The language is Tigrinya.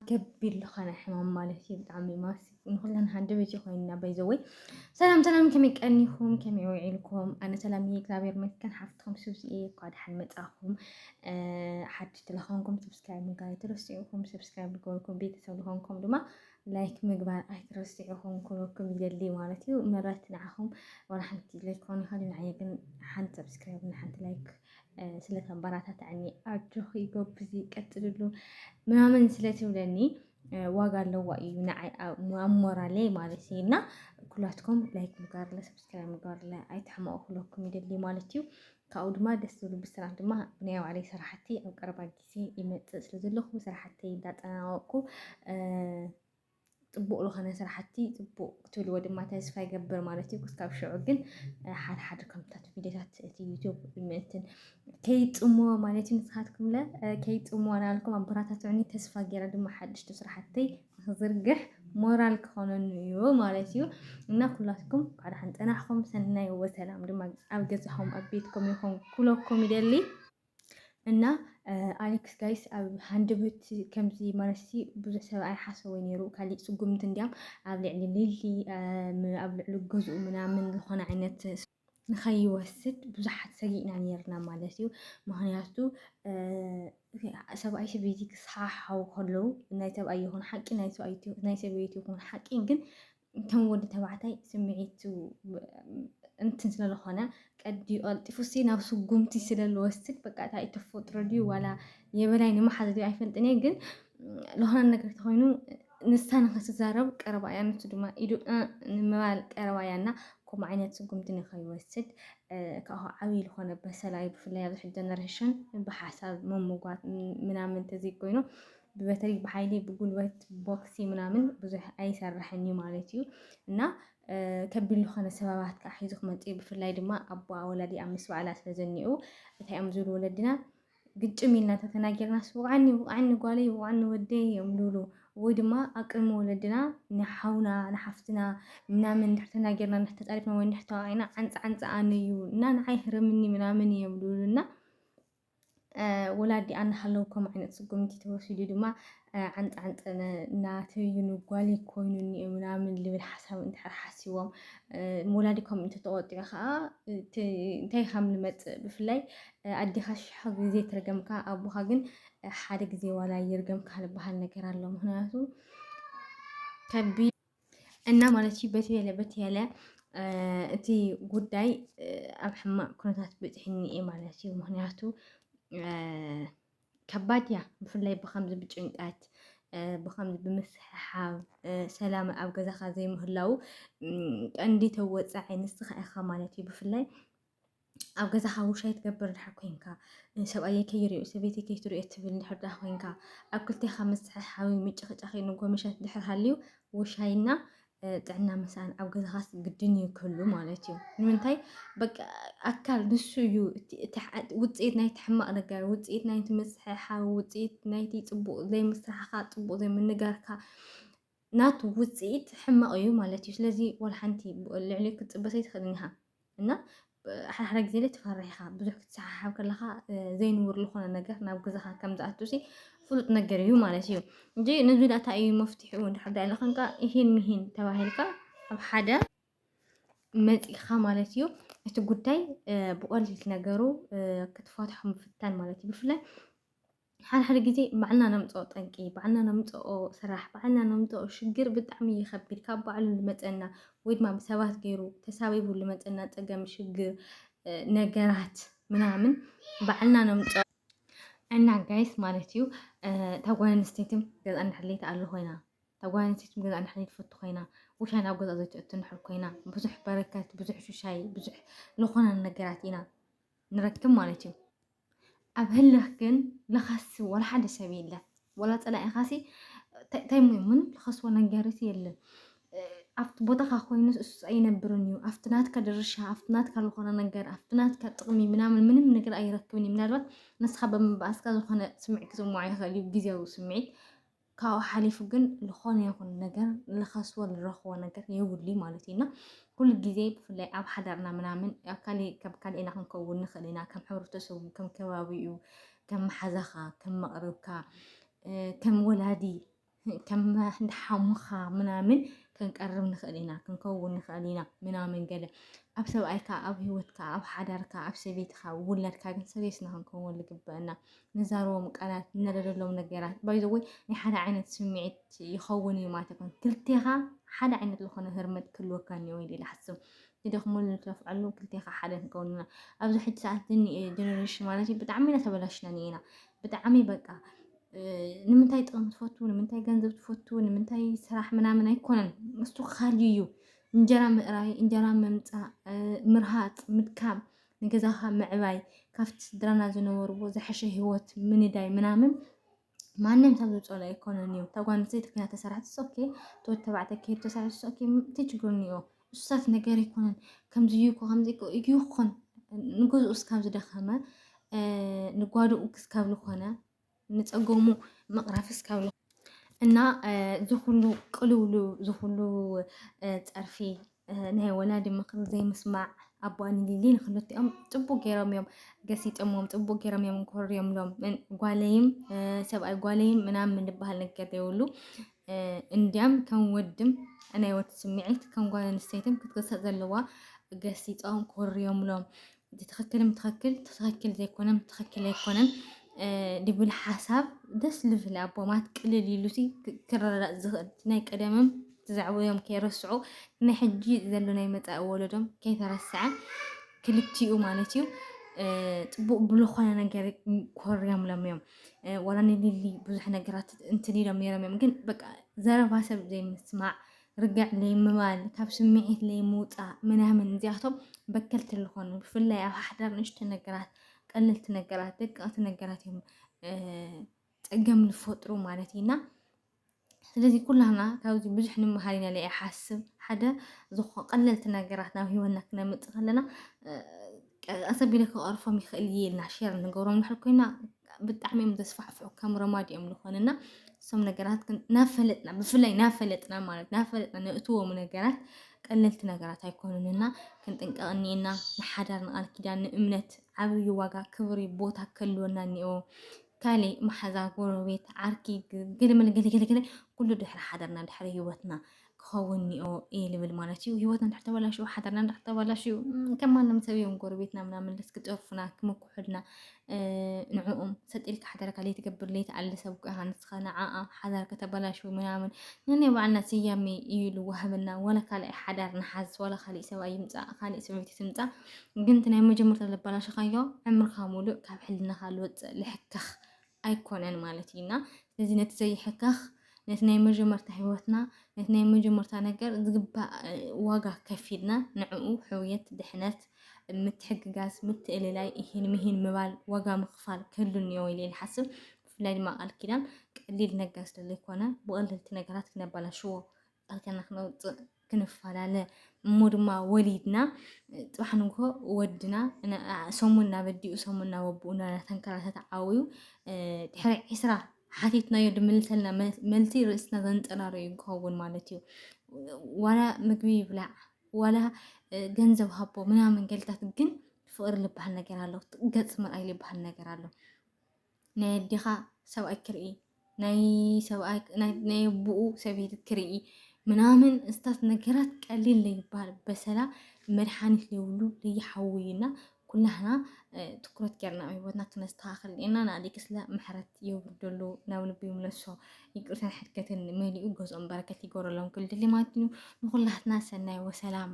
ገቢል ዝኾነ ሕማም ማለት እዩ ብጣዕሚ ማሲ ንኩለን ሃንደ ቤት ኮይንና በይዘወይ ሰላም ሰላም ከመይ ቀኒኹም ከመይ ውዒልኩም ኣነ ሰላም እየ እግዚኣብሔር ይመስገን ሓፍትኩም ስብዚ እየ እኳ ድሓን መፃኹም ሓድሽ ተለኾንኩም ሰብስክራይብ ምግባር ኣይትረስዑኹም ሰብስክራይብ ዝገበርኩም ቤተሰብ ዝኾንኩም ድማ ላይክ ምግባር ኣይትረስዑኹም ክብለኩም ይደሊ ማለት እዩ ምረት ንዓኹም ዋላ ሓንቲ ላይክ ኮን ይኸእል ንዓየ ግን ሓንቲ ሰብስክራይብ ንሓንቲ ላይክ ስለ ተበራታታዕኒ ኣጆኺ ጎብዚ ቀፅልሉ ምናምን ስለ ትብለኒ ዋጋ ኣለዋ እዩ ንዓይ ኣሞራለይ ማለት እዩ እና ኩላትኩም ላይክ ምግባርለ ሰብስክራይብ ምግባርለ ኣይትሕመቑ ክለኩም ይደሊ ማለት እዩ ካብኡ ድማ ደስ ዝብሉ ብስራት ድማ ብናይ ባዕለይ ስራሕቲ ኣብ ቀረባ ግዜ ይመፅእ ስለ ዘለኹ ስራሕተይ እንዳጠናወቅኩ ፅቡቕ ዝኾነ ስራሕቲ ፅቡቕ ክትብልዎ ድማ ተስፋ ይገብር ማለት እዩ ክስካብ ሽዑ ግን ሓደ ሓደ ከምታት ቪድዮታት እቲ ዩቱብ ምእንትን ከይፅምዎ ማለት እዩ ንስኻትኩም ለ ከይፅምዎ ናልኩም ኣበራታትዑኒ ተስፋ ገይረ ድማ ሓድሽቲ ስራሕተይ ንክዝርግሕ ሞራል ክኾነኑ እዩ ማለት እዩ እና ኩላትኩም ኳዕ ደሓን ፀናሕኩም ሰናይ ወሰላም ድማ ኣብ ገዛኹም ኣብ ቤትኩም ይኹን ኩለኩም ይደሊ እና ኣሌክስ ጋይስ ኣብ ሃንደበት ከምዚ ማለትሲ ብዙሕ ሰብ ኣይሓሰቦ ነይሩ ካሊእ ስጉምቲ እንዲያም ኣብ ልዕሊ ሊሊ ኣብ ልዕሊ ገዝኡ ምናምን ዝኾነ ዓይነት ንኸይወስድ ብዙሓት ሰጊእና ነርና ማለት እዩ ምክንያቱ ሰብኣይ ሰበይቲ ክሰሓሓው ከለዉ ናይ ሰብኣይ ይኹን ሓቂ ናይ ሰበይቲ ይኹን ሓቂ ግን ከም ወዲ ተባዕታይ ስምዒቱ እንትን ስለዝኾነ ቀዲኡ ቀልጢፉሲ ናብ ስጉምቲ ስለዝወስድ በቃ እታይ ተፈጥሮ ድዩ ዋላ የበላይ ንመሓዝ ድዩ ኣይፈልጥን እየ ግን ዝኾነ ነገር ተኾይኑ ንሳ ንክትዛረብ ቀረባ እያ ንሱ ድማ ኢዱ ንምባል ቀረባ እያ እና ከምኡ ዓይነት ስጉምቲ ንከይወስድ ካብኡ ዓብዪ ዝኾነ በሰላ እዩ ብፍላይ ኣብዚ ሕጂ ጀነሬሽን ብሓሳብ ምምጓት ምናምን ተዘይኮይኑ ብበትሪ ብሓይሊ ብጉልበት ቦክሲ ምናምን ብዙሕ ኣይሰርሕን እዩ ማለት እዩ እና ከቢድ ዝኾነ ሰበባት ከዓ ሒዙ ክመፅ እዩ ብፍላይ ድማ ኣቦ ወላዲ ኣብ ምስ በዓላ ስለ ዘኒኡ እንታይ እዮም ዝብሉ ወለድና ግጭም ኢልና ተተናጊርና ስውቃኒ ውቃኒ ጓለይ ውቃኒ ወደይ እዮም ዝብሉ ወይ ድማ ኣብ ቅድሚ ወለድና ንሓውና ንሓፍትና ምናምን እንድሕር ተናጊርና እንድሕር ተፃሪፍና ወይ እንድሕር ተዋዒና ዓንፃ ዓንፃ ኣነ እዩ እና ንዓይ ህረምኒ ምናምን እዮም ዝብሉና ወላዲ ኣናሃለዉ ከም ዓይነት ስጉምቲ ተወሲዱ ድማ ዓንጣዓንጠ ናተዩኑ ጓሊ ኮይኑኒ እዩ ምናምን ልብል ሓሳብ እንድሕር ሓሲቦም ወላዲ ከምኡ እንተተቆጢዑ ከዓ እንታይ ከም ልመፅእ ብፍላይ ኣዴኻ ሽሕ ግዜ ትርገምካ ኣቦኻ ግን ሓደ ግዜ ዋላ ይርገምካ ልበሃል ነገር ኣሎ ምክንያቱ ከቢድ እና ማለት እዩ በቲ በለ በቲ ያለ እቲ ጉዳይ ኣብ ሕማቅ ኩነታት ብፅሕኒ እየ ማለት እዩ ምክንያቱ ከባድ እያ ብፍላይ ብከምዚ ብጭንቀት ብከምዚ ብምስሕሓብ ሰላም ኣብ ገዛካ ዘይምህላው ቀንዲ ተወፃዒ ንስካ ኢካ ማለት እዩ ብፍላይ ኣብ ገዛ ሓውሻይ ትገብር ድሕር ኮንካ ሰብኣየ ከይሪኦ ሰበይቲ ከይትሪኦ ትብል ድሕር ድኣ ኮንካ ኣብ ክልቴኻ ምዝሕሓዊ ምጭኽጫኺ ንጎመሸት ድሕር ሃልዩ ውሻይና ጥዕና ምሳን ኣብ ገዛኻስ ግድን እዩ ክህሉ ማለት እዩ ንምንታይ በቃ ኣካል ንሱ እዩ ውፅኢት ናይቲ ሕማቕ ነገር ውፅኢት ናይቲ ምዝሕሓዊ ውፅኢት ናይቲ ፅቡቕ ዘይምስራሕኻ ፅቡቕ ዘይምንጋርካ ናቱ ውጽኢት ሕማቕ እዩ ማለት እዩ። ስለዚ ወላ ሓንቲ ልዕሊኡ ክትጽበ ዘይትኽእልን ኢኻ እና ሓድሓደ ግዜ ትፈርሕ ኢኻ ብዙሕ ክትሰሓሓብ ከለኻ ዘይንቡር ዝኾነ ነገር ናብ ገዛኻ ከም ዝኣቱሲ ፍሉጥ ነገር እዩ ማለት እዩ እንጂ ነዚ ዳታ እዩ መፍትሒኡ እንድሕር ዳ ኢልኸንካ ይህን ምሂን ተባሂልካ ኣብ ሓደ መፂኻ ማለት እዩ እቲ ጉዳይ ብቐሊል ነገሩ ክትፈትሖ ምፍታን ማለት እዩ ብፍላይ ሓድሓደ ግዜ ባዕልና ነምጽኦ ጠንቂ ባዕልና ነምጽኦ ስራሕ ባዕልና ነምጽኦ ሽግር ብጣዕሚ ይኸብድ ካብ ባዕሉ ልመጸና ወይ ድማ ብሰባት ገይሩ ተሳቢቡ ልመጸና ጸገም ሽግር ነገራት ምናምን ባዕልና ነምጽኦ እና ጋይስ ማለት እዩ እታ ጓል ኣንስተይቲ ገዛ እንድሕለይቲ ኣሉ ኮይና እታ ጓል ኣንስተይቲ ገዛ እንድሕለይቲ ፈቱ ኮይና ውሻ ናብ ገዛ ዘይትእቱ ንሕር ኮይና ብዙሕ በረከት ብዙሕ ሽሻይ ብዙሕ ዝኾነ ነገራት ኢና ንረክብ ማለት እዩ ኣብ ህልኽ ግን ልኸሲ ወላ ሓደ ሰብ የለን ወላ ፀላኢኻሲ እንታይ ሞ ምንም ልኸስዎ ነገርሲ የለን ኣብቲ ቦታኻ ኮይኑ እሱ ኣይነብርን እዩ ኣብቲ ናትካ ድርሻ ኣብቲ ናትካ ዝኾነ ነገር ኣብቲ ናትካ ጥቕሚ ምናምን ምንም ነገር ኣይረክብን እዩ ምናልባት ንስኻ ብምባእስካ ዝኾነ ስምዒት ክስምዖ ይኽእል እዩ ግዜያዊ ስምዒት ካብኡ ሓሊፉ ግን ዝኾነ ይኹን ነገር ንኸስቦ ንረኽቦ ነገር የብሉይ ማለት እዩ እና ኩሉ ግዜ ብፍላይ ኣብ ሓዳርና ምናምን ኣብ ካሊእ ከም ካልእ ኢና ክንከውን ንኽእል ኢና ከም ሕብረተሰቡ ከም ከባቢኡ ከም መሓዛኻ ከም መቕርብካ ከም ወላዲ ከም እንደ ሓሙኻ ምናምን ክንቀርብ ንኽእል ኢና ክንከውን ንኽእል ኢና ምናምን ገለ ኣብ ሰብኣይካ ኣብ ሂወትካ ኣብ ሓዳርካ ኣብ ሰበይትካ ውላድካ ግን ሰበይትና ክንከውን ዝግበአና ንዛረቦም ቃላት ንነደደሎም ነገራት ባይ ዘ ወይ ናይ ሓደ ዓይነት ስምዒት ይኸውን እዩ ማለት ኣይኮነ ክልቴኻ ሓደ ዓይነት ዝኾነ ህርመት ክህልወካ እኒኦ ኢለ ይሓስብ ትደኽመሉ ትለፍዐሉ ክልቴኻ ሓደ ንከውን ኢና ኣብዚ ሕጂ ሰዓት ዝኒ ጀነሬሽን ማለት እዩ ብጣዕሚ ኢና ተበላሽና እኒኤና ብጣዕሚ በቃ ንምንታይ ጥቕሚ ትፈቱ ንምንታይ ገንዘብ ትፈቱ ንምንታይ ስራሕ ምናምን ኣይኮነን እሱ ካልዩ እዩ እንጀራ ምእራይ እንጀራ ምምፃእ ምርሃፅ ምድካም ንገዛኻ ምዕባይ ካብቲ ስድራና ዝነበርዎ ዝሐሸ ሂወት ምንዳይ ምናምን ማንም ሰብ ዝፀሎ ኣይኮነን እዩ። እታ ጓል ኣንስተይቲ ኮይና ተሰራሕቲ ሶኬ ተወድ ተባዕታይ ከይዱ ተሰራሕቲ ሶኬ እንታይ ችግር እኒኦ? እሱሳት ነገር ኣይኮነን ከምዚ እዩ እኮ ከምዚ እዩ ይኹን ንገዝኡ እስካብ ዝደኸመ ንጓድኡ ክስካብ ዝኾነ ንፀገሙ ምቕራፍ እስካብ እና ዝኹሉ ቅልውሉ ዝኹሉ ፀርፊ ናይ ወላዲ ምኽሪ ዘይምስማዕ ኣቦኣ ንሊሊ ንክልቲኦም ፅቡቅ ገይሮም እዮም ገሲጠሞም ፅቡቅ ገይሮም እዮም ኮርዮምሎም ጓለይም ሰብኣይ ጓለይም ምናምን ዝበሃል ነገር ዘይብሉ እንዲያም ከም ወድም ናይ ወድ ስምዒት ከም ጓል ኣንስተይትን ክትገሰፅ ዘለዋ ገሲፆም ኮርዮምሎም እቲ ትኽክልም ትኽክል ትኽክል ዘይኮነም ትኽክል ኣይኮነን ድብል ሓሳብ ደስ ልብል ኣቦማት ቅልል ኢሉ ክረዳእ ዝኽእል ናይ ቀደምም ትዛዕብኦም ከይረስዑ ናይ ሕጂ ዘሎ ናይ መፃኢ ወለዶም ከይተረስዐ ክልቲኡ ማለት እዩ ፅቡቅ ብዝኾነ ነገር ኮርዮም ሎም እዮም ዋላ ንሊሊ ብዙሕ ነገራት እንትን ኢሎም ነይሮም እዮም ግን በቃ ዘረባ ሰብ ዘይምስማዕ ርግዕ ለይምባል ካብ ስምዒት ለይምውፃእ ምናምን እዚኣቶም በከልቲ ዝኾኑ ብፍላይ ኣብ ሓዳር ንእሽቶ ነገራት ቀለልቲ ነገራት ደቀቕቲ ነገራት እዮም ፀገም ዝፈጥሩ ማለት እዩና ስለዚ ኩላና ካብዚ ብዙሕ ንምሃር ኢና ኢለ ይሓስብ ሓደ ዝኾ ቀለልቲ ነገራት ናብ ሂወትና ክነምፅእ ከለና ቀሰብ ኢለ ክቐርፎም ይኽእል እየ ኢልና ሼር ንገብሮም ንድሕር ኮይና ብጣዕሚ እዮም ዘስፋሕፍሑ ከም ረማድ እዮም ዝኾንና እሶም ነገራት ግን ናፈለጥና ብፍላይ ናፈለጥና ማለት ናፈለጥና ነእትዎም ነገራት ቀለልቲ ነገራት ኣይኮኑንና ክንጥንቀቕ እኒኤና ንሓዳር ንቃል ኪዳን ንእምነት ዓብዪ ዋጋ ክብሪ ቦታ ክህልወና እኒኦ ካልእ መሓዛ ጎረቤት ዓርኪ ግልምል ገለገለገለ ኩሉ ድሕሪ ሓዳርና ድሕሪ ህይወትና ክኸውን ኒኦ እየ ልብል ማለት እዩ። ህይወት እንድሕር ተበላሽዩ ሓዳርና እንድሕር ተበላሽዩ ከም ማንም ሰብ እዮም ጎረቤትና ምናምን ልስ ክጠርፉና ክምኩሑልና ንዕኡም ሰጢልካ ሓዳርካ ለይትገብር ለይትኣሊ ሰብ ኮ ሃንስኻ ንዓኣ ሓዳር ከተበላሽዩ ምናምን ንናይ ባዕልና ስያሜ እዩ ልዋህበና ዋላ ካልኣይ ሓዳር ንሓዝ ዋላ ካሊእ ሰብ ኣይምፃእ ካሊእ ሰበይቲ ትምፃእ ግን እቲ ናይ መጀመርታ ለበላሽኻዮ ዕምርካ ሙሉእ ካብ ሕልናኻ ልወፅእ ልሕከኽ ኣይኮነን ማለት እዩ እና ስለዚ ነቲ ዘይሕከኽ ነቲ ናይ መጀመርታ ህይወትና ነቲ ናይ መጀመርታ ነገር ዝግባእ ዋጋ ከፊልና ንዕኡ ሕውየት፣ ድሕነት፣ ምትሕግጋዝ፣ ምትእልላይ፣ እሂን ምሂን ምባል ዋጋ ምኽፋል ክህሉ እኒኦ ኢለ ይሓስብ። ብፍላይ ድማ ቃል ኪዳን ቀሊል ነገር ስለዘይኮነ ብቐለልቲ ነገራት ክነበላሽዎ ቃልከና ክነውፅእ ክንፈላለ እሞ ድማ ወሊድና ፅባሕ ንግሆ ወድና ሰሙን ናብ ኣዲኡ ሰሙን ናብ ኣቦኡ እናተንከራተተ ዓብዩ ድሕሪ ዕስራ ሓቲትናዮ ድምልሰልና መልሲ ርእስና ዘንፀላሉ እዩ ክኸውን ማለት እዩ። ዋላ ምግቢ ይብላዕ ዋላ ገንዘብ ሃቦ ምናምን ገልታት ግን ፍቅሪ ዝበሃል ነገር ኣሎ፣ ገፅ ምርኣይ ዝበሃል ነገር ኣሎ። ናይ ኣዴኻ ሰብኣይ ክርኢ ናይ ሰብኣይ ናይ ናይ ኣቦኡ ሰበይቲ ክርኢ ምናምን እስታት ነገራት ቀሊል ለይባል በሰላ መድሓኒት ለይብሉ ለይሓውዩና ኩላህና እ፣ ትኩረት ጌርና ኣብ ህይወትና ክነስተኻኽል ኔርና ንኣሌክስለ ምሕረት የውርደሉ ናብ ልቡ ይምለሶ ይቅርታን ሕድገትን መሊኡ ገዝኦም በረከት ይገብረሎም ክልድሊ ማለት እዩ ንኩላትና ሰናይ ወሰላም